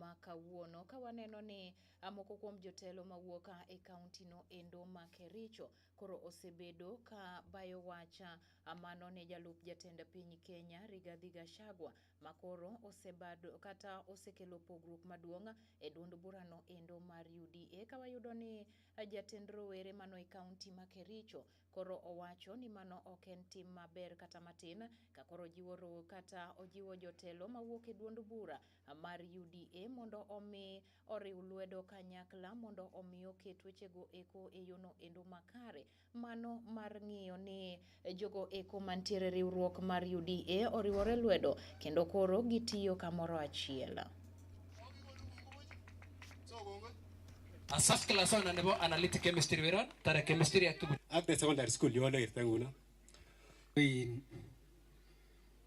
ma kawuono ka waneno ni moko kuom jotelo mawuok e kaunti no endo ma Kericho koro osebedo ka bayo wacha mano ne jalup jatend piny Kenya Rigathi Gachagua ma koro osebado kata osekelo pogruok maduong' e duond burano endo mar UDA ka wayudo ni jatend rowere mano e kaunti ma Kericho koro owacho ni mano ok en tim maber kata matin ka koro ojiwo kata ojiwo jotelo mawuok e duond bura mar UDA mondo omi oriw lwedo kanyakla mondo omi oket wechego eko e yono endo makare. Mano mar ng'iyo ni jogo eko mantiere riwruok mar UDA oriwore lwedo kendo koro gitiyo kamoro achiel. Asaf class on nebo analytic chemistry weron tara chemistry atugu. Ak the secondary school yolo irtanguno.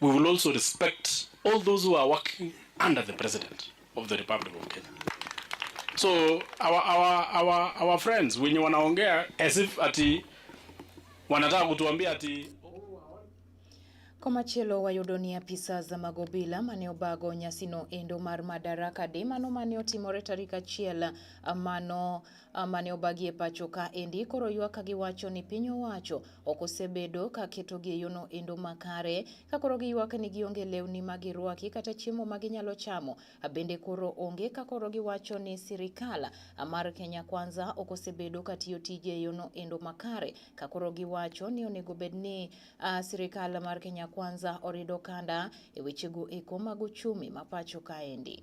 We will also respect all those who are working under the president of the Republic of Kenya. So our, our, our, our friends wenye wanaongea as if ati wanataka kutuambia ati Komachielo wayudo ni apisa za mag obila mane obago nyasino endo mar Madaraka Day mano mane otimore tarik achiel mano mane obagi e pacho ka endi koro ywak ka giwacho ni piny owacho ok osebedo ka ketogi e yono endo makare ka koro giywak ni gionge lewni ma girwaki kata chiemo ma ginyalo chamo bende koro onge ka koro giwacho ni sirikal mar Kenya Kwanza ok osebedo ka tiyo tije e yono endo makare ka koro giwacho ni onego bed ni uh, sirikal mar Kenya Kwanza orido kanda e wechego eko mag uchumi ma pacho kaendi.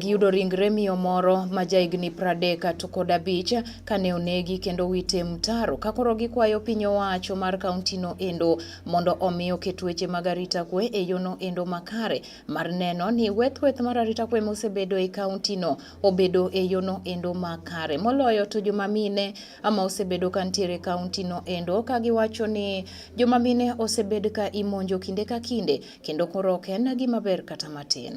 Giyudo ringre miyo moro ma jahigni pradek to kod abich kane onegi kendo wite mtaro ka koro gikwayo piny owacho mar kauntino endo mondo omi oket weche mag arita kwe e yono endo makare mar neno ni wethweth mar arita kwe mosebedo e kauntino obedo e yono endo makare moloyo to joma mine ama osebedo ka ntiere kauntino endo ka giwacho ni joma mine osebed ka imonjo kinde ka kinde kendo koro ok en gima ber kata matin.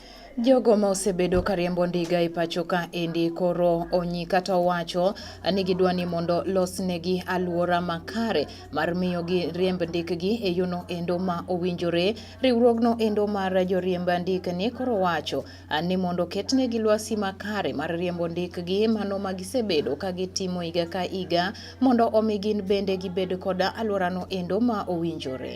Jogo ma osebedo ka riembo ndiga e pacho ka endi koro onyi kata owacho ni gidwa ni mondo losnegi alwora makare mar miyo gi riemb ndikgi e yono endo ma owinjore. Riwruogno endo mar joriemb ndikni koro wacho ni mondo ketnegi lwasi makare mar riembo ndikgi mano ma gisebedo ka gitimo higa ka higa mondo omi gin bende gibed koda alworano endo ma owinjore.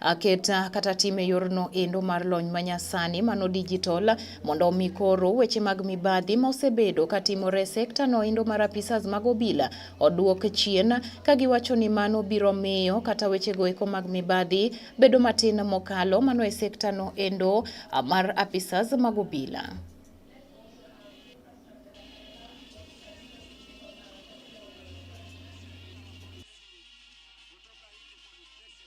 aketa kata tim e yorno endo mar lony manyasani mano digital mondo omi koro weche mag mibadhi ma osebedo katimore e sekta no endo mar apisas mag obila oduok chien ka giwacho ni mano biro miyo kata wechego eko mag mibadhi bedo matin mokalo mano e sekta no endo mar apisas mag obila.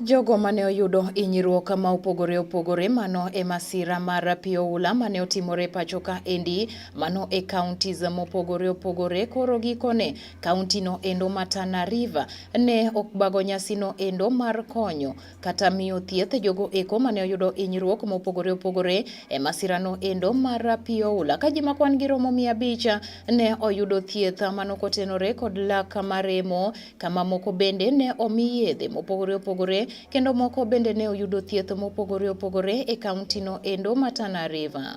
Jogo mane oyudo hinyruok ma opogore opogore mano e masira mar pi oula mane otimore pacho ka endi mano e counties mopogore opogore koro gikone county no endo ma Tana River ne okbago nyasi no endo mar konyo kata miyo thieth jogo eko mane oyudo hinyruok mopogore opogore e masira no endo mar pi oula ka ji makwan gi romo mia abich ne oyudo thieth mano kotenore kod lak maremo kama moko bende ne omi yedhe mopogore opogore kendo moko bende ne oyudo thieth mopogore opogore e kauntino endo ma Tana River.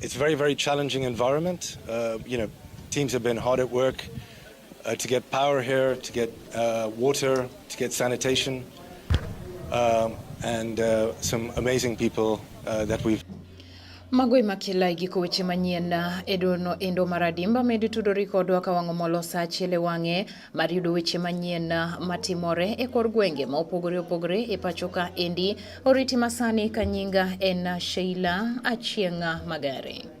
It's a very, very challenging environment. Uh, you know, teams have been hard at work uh, to get power here, to get uh, water, to get sanitation, um, and uh, some amazing people uh, that we've. Mago ema kila igiko weche manyien edono endo maradimba medi tudori kodwa ka wang'o molo sa achiel e wang'e mar yudo weche manyien ah, matimore e kor gwenge ma opogore opogore e pacho ka endi. Oriti masani ka nyinga en ah, Sheila Achieng'a ah, Magari.